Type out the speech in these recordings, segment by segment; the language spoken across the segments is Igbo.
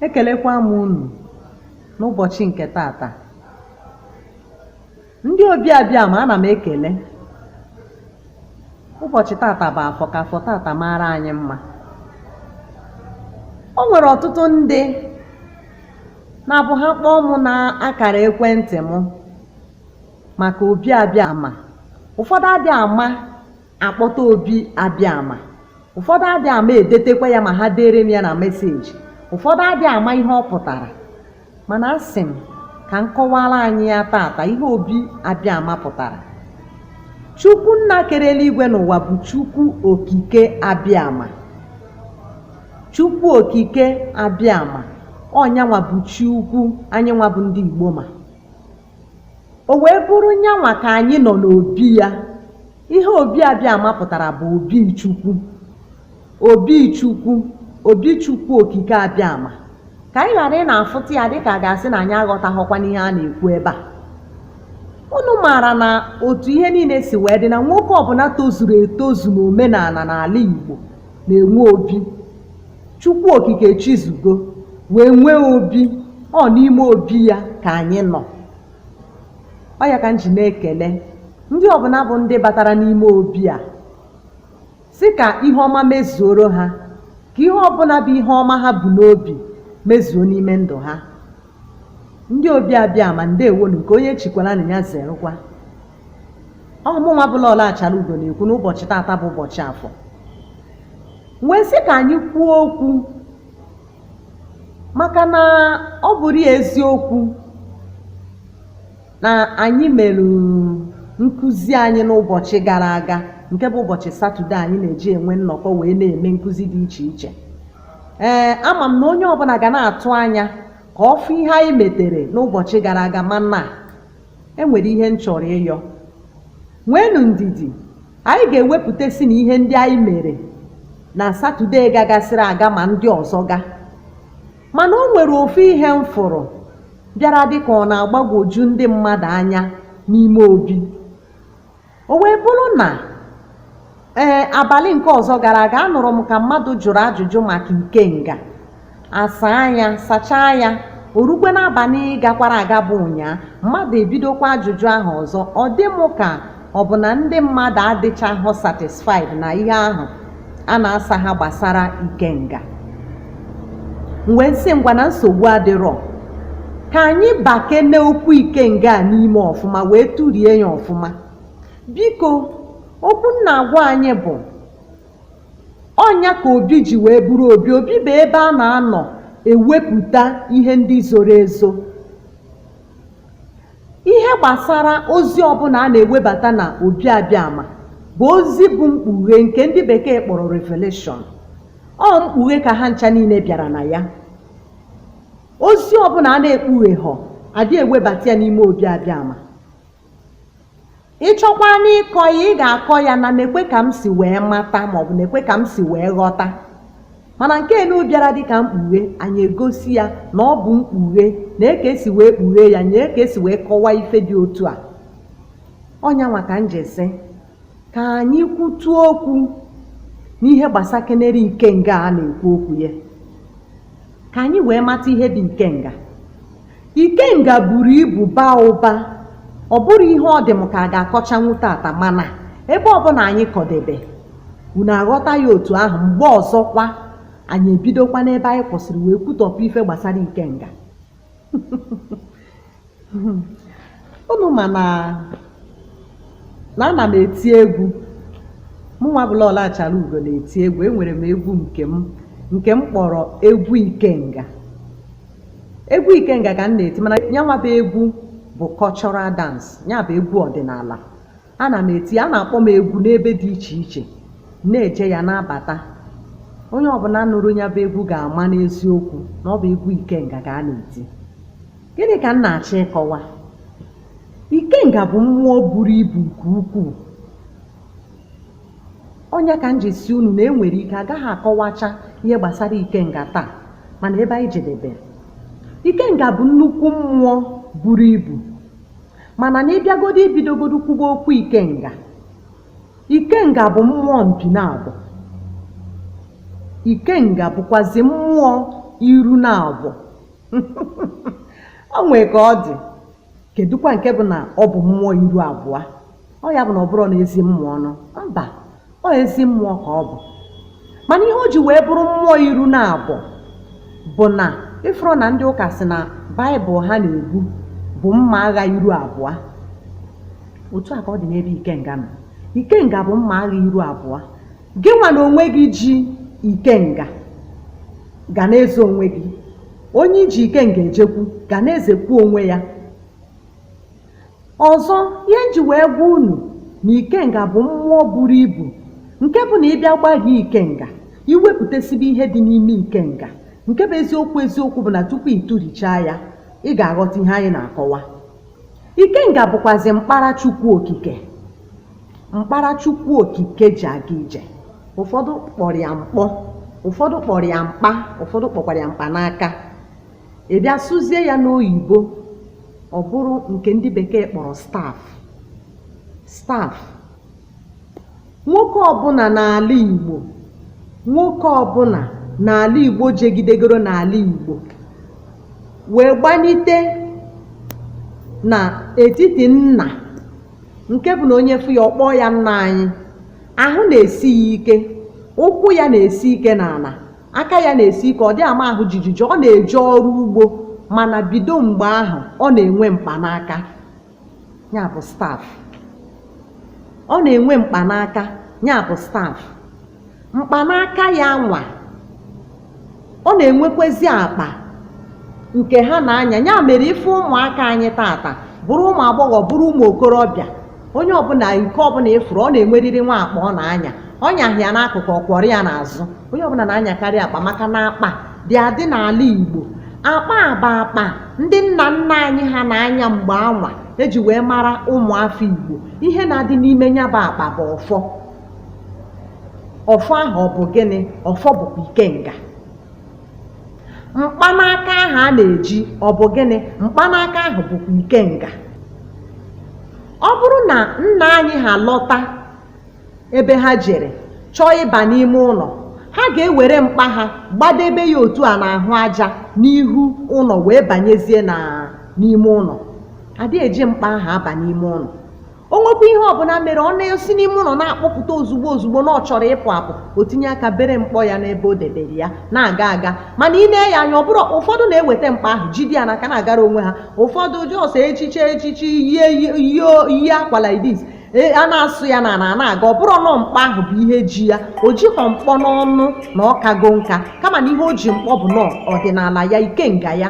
ekelekwa m unu n'ụbọchị nke tata ndị obi abịama ana m ekele ụbọchị tata bụ afọ ka afọ tata mara anyị mma o nwere ọtụtụ ndị na-abụ ha kpọọ mụ n'akara ekwentị m maka obi abịama ụfọdụ adị ama akpọta obi abịama ụfọdụ adị ama edetekwa ya ma ha deere m ya na meseji ụfọdụ adị ama ihe ọ pụtara mana asị m ka m kọwaara anyị ya tata ihe obi abịama pụtara chukwu nna kere eluigwe na ụwa bụ chukwu okike abịama chukwu okike abịama ọ nyanwa bụ chi ukwu anyị nwa bụ ndị igbo ma O wee bụrụ nyanwa ka anyị nọ n'obi ya. Ihe Obi Abịama pụtara bụ obi Chukwu. Obi Chukwu, obi Chukwu okike Abịama. Ka anyị ghara ịna-afụta ya dịka a ga-asị na anyị aghọtaghọkwa n'ihe a na-ekwu ebe a. Unu maara na otu ihe niile si wee dị na nwoke ọbụla tozuru etozu n'omenala n'ala Igbo na-enwe obi chukwu okike echizugo wee nwee obi ọ n'ime obi ya ka anyị nọ ọ ya ka m ji na-ekele ndị ọbụla bụ ndị batara n'ime obi a sị ka ihe ọma mezuoro ha ka ihe ọbụla bụ ihe ọma ha bu n'obi mezuo n'ime ndụ ha ndị obi abịama ndewonụ nke onye chikwara nya zerụkwa ọ mụnwa bụ lọlọ achara ugo na-ekwu n'ụbọchị tata bụ ụbọchị afọ wee sị ka anyị kwuo okwu maka na ọ bụrụ eziokwu na anyị mere nkụzi anyị n'ụbọchị gara aga nke bụ ụbọchị satọde anyị na-eji enwe nnọkọ wee na-eme nkụzi dị iche iche ee ama m na onye ọbụla ga na-atụ anya ka ọ fụ ihe anyị metere n'ụbọchị gara aga mana E nwere ihe m chọrọ ịyọ. Nweenụ ndidi, anyị ga-ewepụtasị na ihe ndị anyị mere na Satọdee gagasịrị aga ma ndị ọzọ ga. Mana o nwere ofu ihe m fụrụ bịara dị ka ọ na-agbagwoju ndị mmadụ anya n'ime obi. O wee bụrụ na ee abalị nke ọzọ gara aga anụrụ m ka mmadụ jụrụ ajụjụ maka ikenga a saa ya sachaa ya o rukwe n'abalị gakwara aga bụ ụnyaa mmadụ ebidokwa ajụjụ ahụ ọzọ ọ dị m ka ọ bụ na ndị mmadụ adịchaghị satisfied na ihe ahụ a na-asa ha gbasara ikenga m wee sị ngwa na nsogbu adịrọ ka anyị bakene okwu ikenga a n'ime ọfụma wee tụrie ya ọfụma biko okwu m na-agwa anyị bụ ọnya ka obi ji wee bụrụ obi obi bụ ebe a na-anọ ewepụta ihe ndị zoro ezo Ihe gbasara ozi ọbụna a na-ewebata na obi abịama bụ ozi bụ mkpughe nke ndị bekee kpọrọ revelation. Ọ mkpughe ka ha ncha niile bịara na ya. Ozi ọbụna a na-ekpugheghọ adị ewebata ya n'ime obi abịama. Ị chọkwaa n'ịkọ ya, ị ga-akọ ya na nekwe ka m si wee mata maọbụ nekwe ka m si wee ghọta. Mana nke enu bịara dị ka mkpughe, anyị egosi ya na ọ bụ mkpughe, nee ka e si wee kpughee ya, nee ka e si wee kọwaa ife dị otu a. Ọnyanwa ka m ji sị, ka anyị kwutu okwu n'ihe gbasakenere ikenga a na-ekwu okwu ya, ka anyị wee mata ihe bụ ikenga. Ikenga buru ibu baa ụba. Ọ bụrọ ihe ọ dị m ka a ga-akọchanwu tata mana ebe ọbụna anyị kọdebe, unu aghọta ya otu ahụ mgbe ọzọkwa anyị ebidokwa n'ebe anyị kwụsịrị wee kwutọpụ ife gbasara Ikenga. Unu ma na na ana m eti egwu. Mụnwa bụ Lọlọ Achalaugo na-eti egwu. Enwere m egwu nke m kpọrọ egwu Ikenga. Egwu Ikenga ka m na-eti mana yanwa bụ egwu bụ cultural dance, ya bụ egwu ọdịnala. Ana m eti, a na-akpọ m egwu n'ebe dị iche iche, na-eje ya na-abata. Onye ọbụna nụrụ ya bụ egwu ga-ama n'eziokwu na ọ bụ egwu Ikenga ka a na-eti. Gịnị ka m na-achọ ịkọwa? Ikenga bụ mmụọ buru ibu nke ukwuu. Ọnya ka m ji sị unu na e nwere ike agaghị akọwacha ihe gbasara Ikenga taa mana ebe anyị jedebere. Ikenga bụ nnukwu mmụọ buru ibu mana na ị bịagodo ibidogodo kwuba okwu Ikenga, Ikenga bụ mmụọ mpi naabọ. Ikenga bụkwazi mmụọ iru naabọ. o nwee ka ọ dị kedụkwa nke bụ na ọ bụ mmụọ iru abụa ọ ya bụ na ọ bụrọ na ezi mmụọ ọnụ mba ọ ezi mmụọ ka ọ bụ mana ihe o ji wee bụrụ mmụọ iru naabọ bụ na ị fụrọ na ndị ụka sị na baịbụl ha na-ebu bụ mma agha iru abụa otu a ka ọ dị n'ebe ikenga nọ ikenga bụ mma agha iru abụa Gị nwa na onwe gị ji ikenga ga na-eze onwe gị. Onye i ji ikenga ejekwu ga na-ezekwu onwe ya. Ọzọ, ihe m ji wee gwa unu na ikenga bụ mmụọ buru ibu nke bụ na ị bịa gbaghie ikenga, i wepụtesibe ihe dị n'ime ikenga. Nke bụ eziokwu eziokwu bụ na tupu ị tụrichaa ya, ị ga-aghọta ihe anyị na-akọwa. Ikenga bụkwazị mkpara Chukwu Okike. Mkpara Chukwu Okike ji aga ije. Ụfọdụ kpọrọ ya mkpọ, ụfọdụ kpọrọ ya mkpa, ụfọdụ kpọkwara ya mkpanaka. Ị bịa sụzie ya n'oyibo, ọ bụrụ nke ndị bekee kpọrọ staff. Staff Nwoke ọbụla n'ala Igbo nwoke ọbụla n'ala Igbo jegidegoro n'ala Igbo wee gbanite na etiti nna nke bụ na onye fụ ya ọ kpọọ ya nna anyị ahụ na-esi ya ike ụkwụ ya na-esi ike n'ala aka ya na-esi ike ọ dị ama ahụ jijiji ọ na-eje ọrụ ugbo mana bido mgbe ahụ ọ na-enwe mkpanaka ya bụ staff ọ na-enwe mkpanaka ya bụ staff mkpanaka ya nwa ọ na-enwekwezi akpa nke ha na-anya ya mere ife ụmụaka anyị tata bụrụ ụmụ agbọghọ bụrụ ụmụ okorobịa onye ọbụla nke ọbụla ị fụrụ ọ na-enwerịrị nwa akpa ọ na-anya ọ nyaghị ya n'akụkụ ọ kwọrọ ya n'azụ onye ọbụla na-anyakarị akpa maka na akpa dị adị n'ala Igbo akpa a bụ akpa ndị nna nna anyị ha na-anya mgbe anwa e ji wee mara ụmụafọ Igbo ihe na-adị n'ime ya bụ akpa bụ ọfọ ọfọ ahụ ọ bụ gịnị ọfọ bụkwa ikenga mkpanaka ahụ a na-eji ọ bụ gịnị mkpanaka ahụ bụkwa ikenga ọ bụrụ na nna anyị ha lọta ebe ha jere chọọ ịba n'ime ụlọ ha ga-ewere mkpa ha gbadebe ya otu a n'ahụ aja n'ihu ụlọ wee banyezie n'ime ụlọ adịghị eji mkpa ahụ aba n'ime ụlọ o nwekwa ihe ọbụla mere ọ na-esi n'ime ụlọ na-akpọpụta ozugbo ozugbo na ọ chọrọ ịpụ apụ o tinye aka bere mkpọ ya n'ebe o debere ya na-aga aga mana ị nee ya anya ọ bụrụ ụfọdụ na-eweta mkpa ahụ jide ya n'aka na-agara onwe ha ụfọdụ just echichi echichi yie akwa like this A na-asụ ya n'ana na-aga ọ bụrụ nọ mkpa ahụ bụ ihe ji ya o jighọ mkpọ n'ọnụ na ọ kago nka kama na ihe o ji mkpọ bụ nọ ọdịnala ya ikenga ya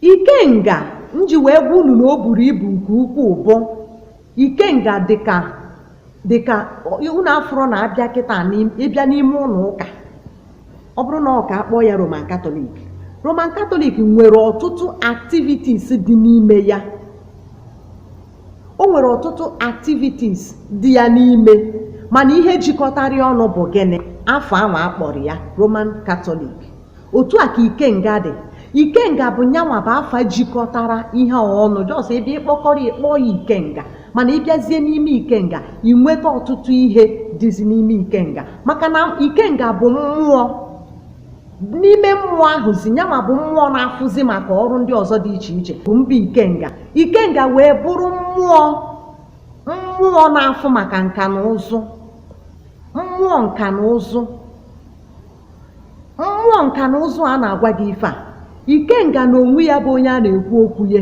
ikenga m ji wee gwa unu na o buru ibu nke ukwuu bụ ikenga dịka unu afụrụ na a bịa kịta n'im- ị bịa n'ime ụlọ ụka ọ bụrụ na ụka a kpọọ ya roman katọlik roman katọlik nwere ọtụtụ activities dị n'ime ya o nwere ọtụtụ activities dị ya n'ime mana ihe jikọtara ya ọnụ bụ gịnị afa ahụ a kpọrọ ya roman katọlik otu a ka ikenga dị ikenga bụ nyanwa bụ afa jikọtara ihe a ọnụ just ebe ị kpọkọrọ ị kpọọ ya ikenga mana ị bịazie n'ime ikenga ị nweta ọtụtụ ihe dịzi n'ime ikenga maka na ikenga bụ mmụọ n'ime mmụọ ahụzi nyanwa bụ mmụọ na-afụzi maka ọrụ ndị ọzọ dị iche iche bụ mba ikenga ikenga wee bụrụ mmụọ mmụọ na-afụ maka nka na ụzụ mmụọ nka na ụzụ Mmụọ nka na ụzụ a na-agwa gị ife a ikenga na onwe ya bụ onye a na-ekwu okwu ya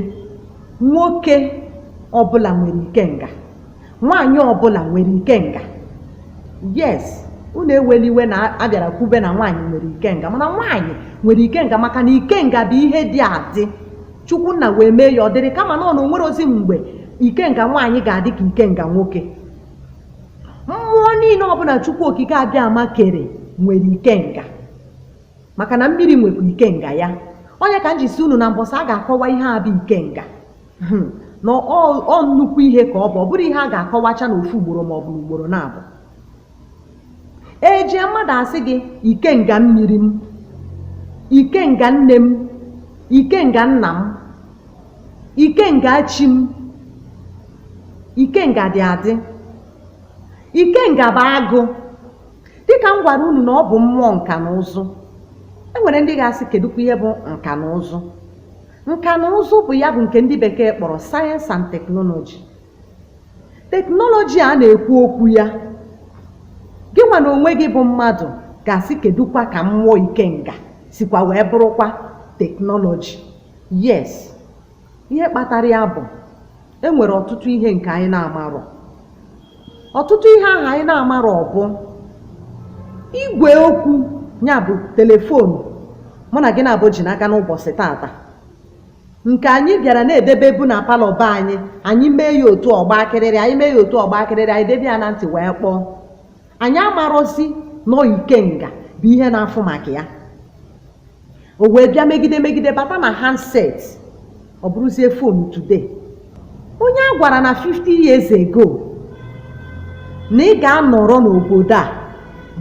nwoke ọbụla nwere ikenga nwaanyị ọbụla nwere ikenga yes unu ewela iwe na a bịara kwube na nwaanyị nwere ikenga mana nwaanyị nwere ikenga maka na ikenga bụ ihe dị adị chukwu nna wee mee ya ọ dịrị kama na ọ na o nwerọzi mgbe ikenga nwaanyị ga-adị ka ikenga nwoke mmụọ niile ọbụla chukwu okike abịama kere nwere ikenga maka na mmiri nwekwa ikenga ya ọ nya ka m ji sị unu na mbọsị a ga-akọwa ihe a bụ ikenga hmm. na ọ nnukwu ihe ka ọ bụ ọ bụrọ ihe a ga-akọwacha na ofu ugboro ma ọ bụ ugboro naabọ ejie mmadụ asị gị ikenga mmiri m ikenga nne m ikenga nna m ikenga chi m ikenga dị adị ikenga bụ agụ dịka m gwara unu na ọ bụ mmụọ nka na ụzụ e nwere ndị ga-asị kedụkwa ihe bụ nka na ụzụ nka na ụzụ bụ ya bụ nke ndị bekee kpọrọ sayensị and teknọlọji teknọlọji a na-ekwu okwu ya gị nwa na onwe gị bụ mmadụ ga-asị kedụkwa ka mmụọ ikenga sikwa wee bụrụkwa teknọlọji Yes, ihe kpatara ya bụ e nwere ọtụtụ ihe nke anyị na-amarọ. Ọtụtụ ihe ahụ anyị na-amarọ bụ igwe okwu ya bụ telefon mụ na gị naabọ ji n'aka n'ụbọsị taata nke anyị bịara na-edebebu na palọ be anyị anyị mee ya otu ọ gbaa kịrịrị anyị mee ya otu ọ gbaa kịrịrị anyị debe ya na ntị wee kpọọ anyị amarọzi na ọ ikenga bụ ihe na-afụ maka ya o wee bịa megide megide bata na handset ọ bụrụzie fonu today onye a gwara na 50 years ago na ị ga-anọrọ n'obodo a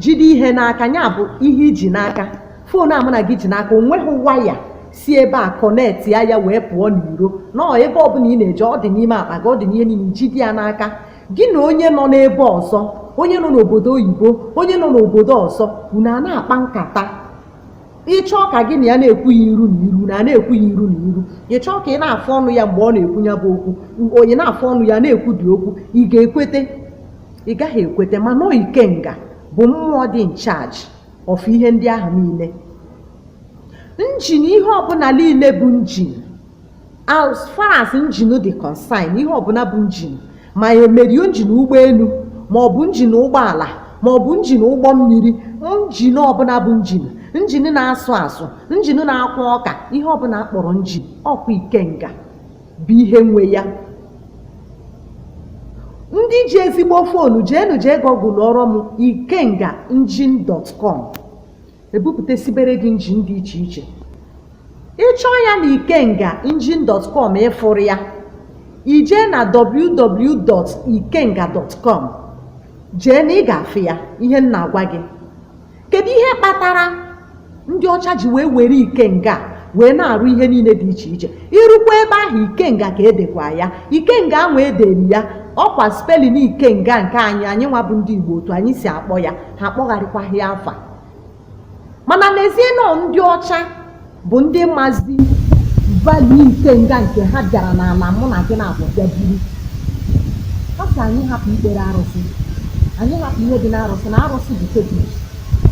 jide ihe n'aka ya bụ ihe i ji n'aka fon a mụ na gị ji n'aka o nweghị waya si ebe a connect ya ya wee pụọ n'iro na ọ ebe ọbụla ị na-eje ọ dị n'ime akpa gị ọ dị n'ihe niile i jide ya n'aka gị na onye nọ n'ebe ọzọ onye nọ n'obodo oyibo onye nọ n'obodo ọzọ unu a na-akpa nkata ị chọọ ka gị na ya na-ekwu ya iru na iru na na-ekwu ya iru na iru ị chọọ ka ị na-afụ ọnụ ya mgbe ọ na-ekwu ya bụ okwu ị na-afụ ọnụ ya na-ekwu dị okwu ị ga-ekwete ị gaghị ekwete mana ọ ikenga bụ mmụọ dị in charge of ihe ndị ahụ niile njin ihe ọbụla niile bụ njin as far as njin dị concerned ihe ọbụla bụ njin ma emerio njin ụgbọelu ma ọ bụ njin ụgbọala ma ọ bụ njin ụgbọ mmiri njin ọbụla bụ njin njin na-asụ asụ njin na-akwọ ọka ihe ọbụla a kpọrọ njin ọ kwa ikenga bụ ihe nwe ya ndị ji ezigbo foonu jeenụ jee google ọrọ m ikenga engine.com ebupụtasibere gị njin dị iche iche ị chọọ ya na ikenga engine.com ị fụrụ ya i jee na www.ikenga.com jee na ị ga-afụ ya ihe m na-agwa gị kedu ihe kpatara ndị ọcha ji wee were ikenga wee na-arụ ihe niile dị iche iche i rukwa ebe ahụ ikenga ka e dekwa ya ikenga ahụ e dere ya ọ kwa spelling ikenga nke anyị anyị nwa bụ ndị igbo otu anyị si akpọ ya ha akpọgharịkwaghị ya afa mana n'ezie na ọ ndị ọcha bụ ndị mazi value ikenga nke ha bịara n'ala mụ na gị naabọ bịa buru ha sị anyị hapụ ikpere arụsị anyị hapụ ihe dị n'arụsị na arụsị bụ fetish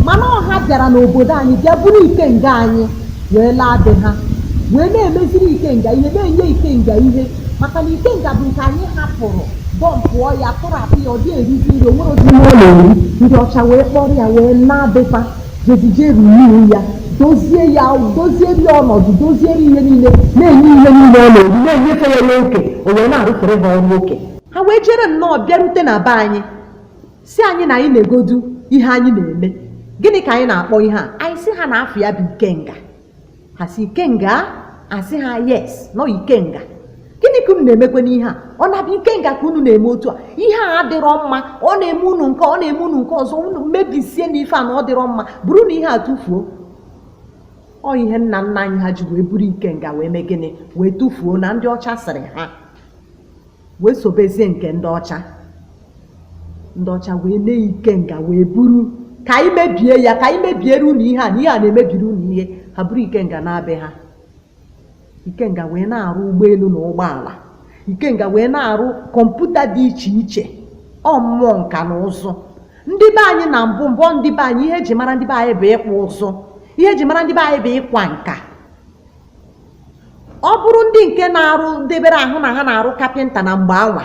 mana ọ ha bịara n'obodo anyị bịa buru ikenga anyị wee laa be ha wee na-emeziri ikenga ihe na-enye ikenga ihe maka na ikenga bụ nke anyị hapụrụ bọmpụọ ya tụrapụ ya ọ dị erizi nri o nwerọzi ihe ọ na-eri ndị ọcha wee kpọrọ ya wee naa be fa jezie jee ruru ya dozie ya dozieri ya ọnọdụ dozieri ihe niile na-enye ihe niile ọ na-eri na-enyefe ya n'oke o wee na-arụfere ha ọrụ oke ha wee jere nnọọ bịarute na be anyị sị anyị na anyị negodu ihe anyị na-eme gịnị ka anyị na-akpọ ihe a anyị sị ha na afa ya bụ ikenga ha sị ikenga a sị ha yes na ọ ikenga gịnị ka unu na-emekwenụ ihe a ọ na-abụ ikenga ka unu na-eme otu a ihe a adịrọ mma ọ na-eme unu nke ọ na-eme unu nke ọzọ unu mebisienụ ife a na ọ dịrọ mma burunụ ihe a tụfuo ọ ihe nna nna anyị ha ji wee buru ikenga wee mee gịnị wee tụfuo na ndị ọcha sịrị ha wee sobezie nke ndị ọcha ndị ọcha wee nee ikenga wee buru ka anyị mebie ya ka anyị mebiere unu ihe a na ihe a na-emebiri unu ihe ha buru ikenga naa be ha ikenga wee na-arụ ụgbọelu na ụgbọala ikenga wee na-arụ kọmputa dị iche iche ọ mmụọ nka na ụzụ ndị be anyị na mbụ mbụ ndị be anyị ihe eji mara ndị be anyị bụ ịkpụ ụzụ ihe eji mara ndị be anyị bụ ịkwa nka ọ bụrụ ndị nke na-arụ debere ahụ na ha na-arụ kapịnta na mgbe anwa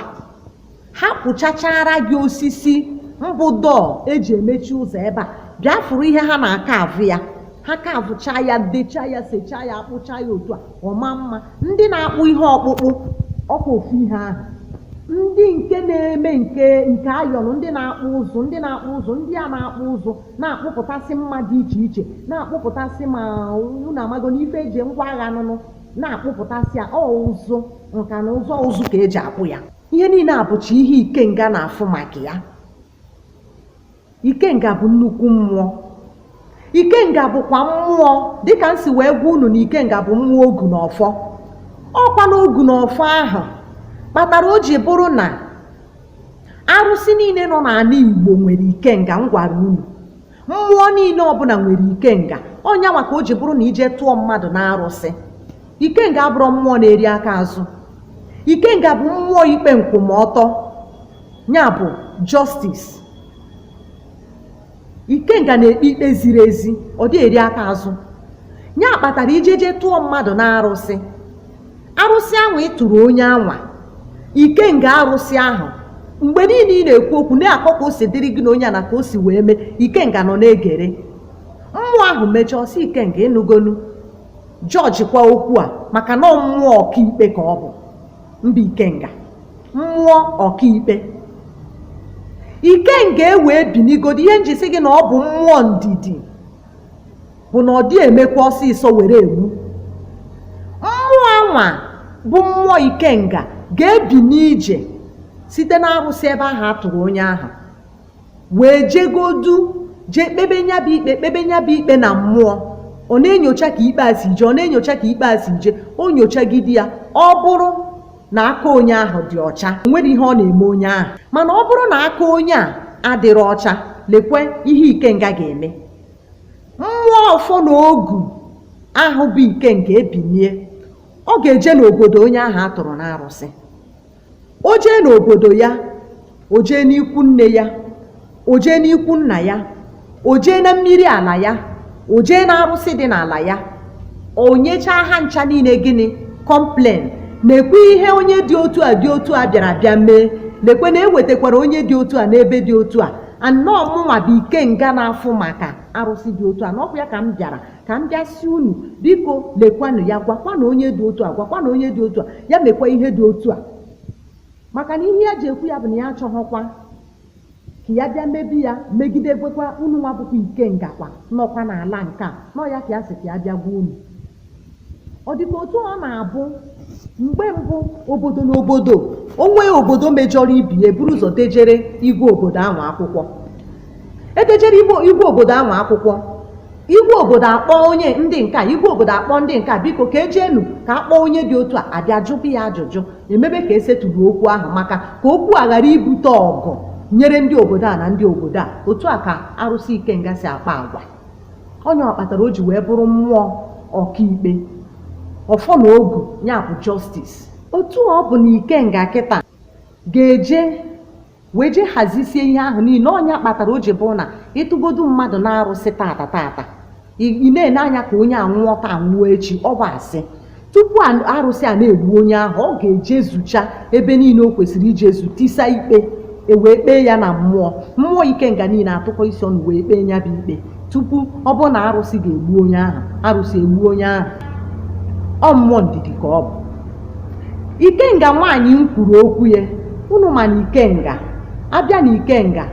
ha kpụchachara gị osisi mbụ door eji emechi ụzọ ebe a bịa fụrụ ihe ha na-akaavụ ya ha kaavụchaa ya dechaa ya sechaa ya akpụchaa ya otu a ọ maa mma ndị na-akpụ ihe ọkpụkpụ ọkwa ofu ihe ahụ ndị nke na-eme nke iron ndị na-akpụ ụzụ ndị na-akpụ ụzụ ndị a na-akpụ ụzụ na-akpụpụtasị mma dị iche iche na-akpụpụtasị ma unu amago n'ife eji ngwa agha niine na-akpụpụtasị ya ọ ụzụ nka na ụzụ ụzụ ka eji akpụ ya ihe niile a bụcha ihe ikenga na-afụ maka ya ikenga bụ nnukwu mmụọ ikenga bụkwa mmụọ dịka m si wee gwa unu na ikenga bụ mmụọ ogu na ọfọ ọkwa na ogu na ọfọ ahụ kpatara o ji bụrụ na arụsị niile nọ n'ala igbo nwere ikenga m gwara unu mmụọ niile ọbụla nwere ikenga ọ nya nwa ka o ji bụrụ na i je tụọ mmadụ na arụsị ikenga abụrọ mmụọ na-eri aka azụ ikenga bụ mmụọ ikpe nkwụmọtọ ya bụ justice ikenga na-ekpe ikpe ziri ezi ọ dị eri aka azụ ya kpatara i jeje tụọ mmadụ na arụsị arụsị ahụ ị tụrụ onye anwa ikenga arụsị ahụ mgbe niile ị na-ekwu okwu na-akọ ka o si dịrị gị na onye a na ka o si wee mee ikenga nọ na-egere mmụọ ahụ mechaa ọ sị ikenga ị nụgonu jọjikwa okwu a maka na ọ mmụọ ọkaikpe ka ọ bụ mba ikenga mmụọ ọkaikpe ikenga ewee binigodi ihe m ji sị gị na ọ bụ mmụọ ndidi bụ na ọ dị emekwa ọsịsọ were egbu mmụọ anwa bụ mmụọ ikenga ga-ebini je site n'arụsị ebe ahụ a tụrụ onye ahụ wee jegodu jee kpebe nya bụ ikpe kpebe nya bụ ikpe na mmụọ ọ na-enyocha ka ikpe a si je ọ na-enyocha ka ikpe a si je o nyochagide ya ọ bụrụ na aka onye ahụ dị ọcha o nwere ihe ọ na-eme onye ahụ mana ọ bụrụ na aka onye a adịrị ọcha lekwe ihe ikenga ga-eme mmụọ ọfọ na ogu ahụ bụ ikenga ebinie ọ ga-eje n'obodo onye ahụ a tụrụ n'arụsị o jee n'obodo ya o jee n'ikwu nne ya o jee n'ikwu nna ya o jee na mmiri ala ya o jee na arụsị dị n'ala ya o nyechaa ha ncha niile gịnị complain nekwe ihe onye dị otu a dị otu a bịara bịa mee lekwe na ewetakwara onye dị otu a n'ebe dị otu a and na ọ mụnwa bụ ikenga na-afụ maka arụsị dị otu a na ọ bụ ya ka m bịara ka m bịa sị unu biko lekwanụ ya gwakwanụ onye dị otu a gwakwanụ onye dị otu a ya mekwa ihe dị otu a maka na ihe ya ji ekwu ya bụ na ya achọghọkwa ka ya bịa mebi ya megide gwekwa unu nwa bụkwa ikenga kwa nọkwa n'ala nke a na ọ ya ka ya sị ka ya bịa gwa unu ọ dịka otu ọ na-abụ mgbe mbụ obodo na obodo o nwee obodo mejọrọ ibe ya eburu ụzọ dejere igwe obodo ahụ akwụkwọ edejere igwe obodo ahụ akwụkwọ igwe obodo akpọ onye ndị nke a igwe obodo akpọ ndị nke a biko ka ejeenu ka a kpọọ onye dị otu a abịa jụbe ya ajụjụ emebe ka e settle okwu ahụ maka ka okwu a ghara ibute ọgụ nyere ndị obodo a na ndị obodo a otu a ka arụsị ikenga si akpa agwa ọ nya kpatara o ji wee bụrụ mmụọ ọkaikpe ọfọ na ogu ya bụ justice otu ọ bụ na ikenga kịta ga-eje wee jee hazisie ihe ahụ niile ọ nya kpatara o ji bụrụ na ị tụgodu mmadụ n'arụsị taata taata ị na-ene anya ka onye a nwụọ taa nwụọ echi ọ bụ asị tupu arụsị a na-egbu onye ahụ ọ ga-ejezucha ebe niile o kwesịrị ijezu tisa ikpe ewee kpee ya na mmụọ mmụọ ikenga niile atụkọ isi ọnụ wee kpee ya bụ ikpe tupu ọ bụrụ na arụsị ga-egbu onye ahụ arụsị egbu onye ahụ ọ mmụọ ndidi ka ọ bụ ikenga nwaanyị m kwuru okwu ya unu ma na ikenga a bịa na ikenga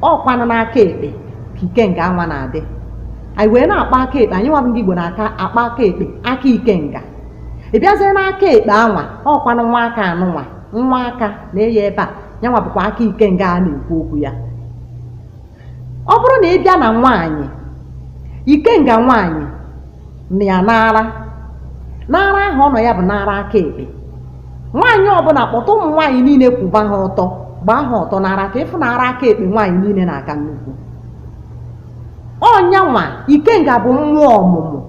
ọkwanụ n'aka ekpe ka ikenga anwa na-adị anyị wee na-akpọ aka ekpe anyị nwa bụ ndị Igbo na-aka akpọ aka ekpe aka ikenga ị bịazie n'aka ekpe anwa ọkwanụ nwa aka anụnwa nwa aka na-eyi ebe a ya nwa bụkwa aka ikenga a na-ekwu okwu ya ọ bụrụ na ị bịa na nwaanyị ikenga nwaanyị nọ ya n'ara n'ara ahụ ọ nọ ya bụ n'ara aka ekpe nwaanyị ọbụla kpọta ụmụ nwaanyị niile kwụba ha ọtọ gbaa ha ọtọ n'ara ka ị fụ na ara aka ekpe nwaanyị niile na-aka nnukwu ọ nya nwa ikenga bụ mmụọ ọmụmụ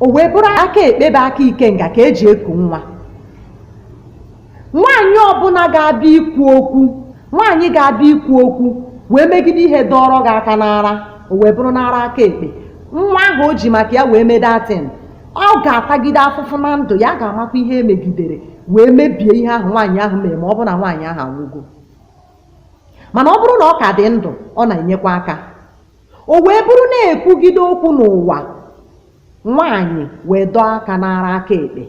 o wee bụrụ aka ekpe bụ aka ikenga ka eji eku nwa nwaanyị ọbụla ga-abịa ikwu okwu nwaanyị ga-abịa ikwu okwu wee megide ihe dọrọ gị aka n'ara o wee bụrụ n'ara aka ekpe nwa ahụ o ji maka ya wee mee that thing ọ ga-atagide afụfụ na ndụ ya ga-amakwa ihe emegidere wee mebie ihe ahụ nwaanyị ahụ mere ma ọ bụ na nwaanyị ahụ anwụgo mana ọ bụrụ na ọ ka dị ndụ ọ na-enyekwa aka o wee bụrụ na-ekwugide okwu n'ụwa Nwaanyị wee dọọ aka n'ara aka ekpe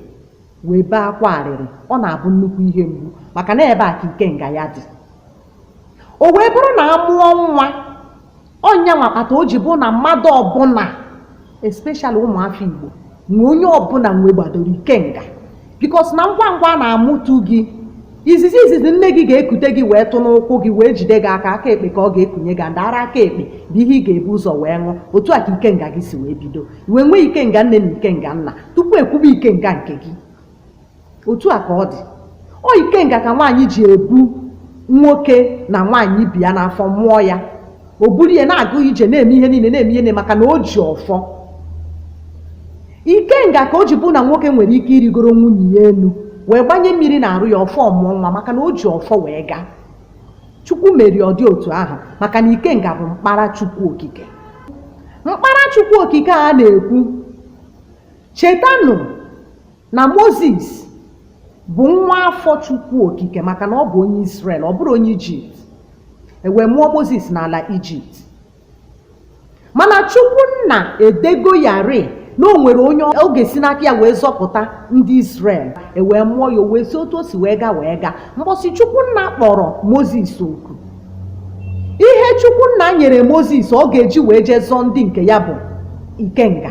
wee bee akwa arịrị ọ na-abụ nnukwu ihe mgbu maka na ebe a ka ikenga ya dị o wee bụrụ na a mụọ nwa ọ nya nwa kpata o ji bụ na mmadụ ọbụla especially ụmụafọ Igbo nwe onye ọbụla nwegbadoro ikenga because na ngwa ngwa a na-amụtu gị izizi izizi nne gị ga-ekute gị wee tụ n'ụkwụ gị wee jide gị aka aka ekpe ka ọ ga-ekunye gị and ara aka ekpe bụ ihe ị ga-ebu ụzọ wee ṅụ otu a ka ikenga gị si wee bido i wee nwee ikenga nne na ikenga nna tupu e kwube ikenga nke gị otu a ka ọ dị ọ ikenga ka nwaanyị ji ebu nwoke na nwaanyị bi ya n'afọ mụọ ya o buru ya na-aga ije na-eme ihe niile na-eme ihe niile maka na o ji ọfọ ikenga ka o ji bụ na nwoke nwere ike irigoro nwunye ya elu wee gbanye mmiri n'arụ ya ọfọ ọ mụọ nwa maka na o ji ọfọ wee gaa chukwu meri ọ dị otu ahụ maka na ikenga bụ mkpara chukwu okike mkpara chukwu okike a na-ekwu chetanụ na moses bụ nwa afọ chukwu okike maka na ọ bụ onye israel ọ bụrụ onye ijipt e wee mụọ moses n'ala ijipt mana chukwu nna edego ya rị na o nwere onye ọ ga-esi n'aka ya wee zọpụta ndị israel e wee mụọ ya o wee si otu o si wee gaa wee gaa mbọsị chukwu nna kpọrọ moses oku ihe chukwu nna nyere moses ọ ga-eji wee jee zọọ ndị nke ya bụ ikenga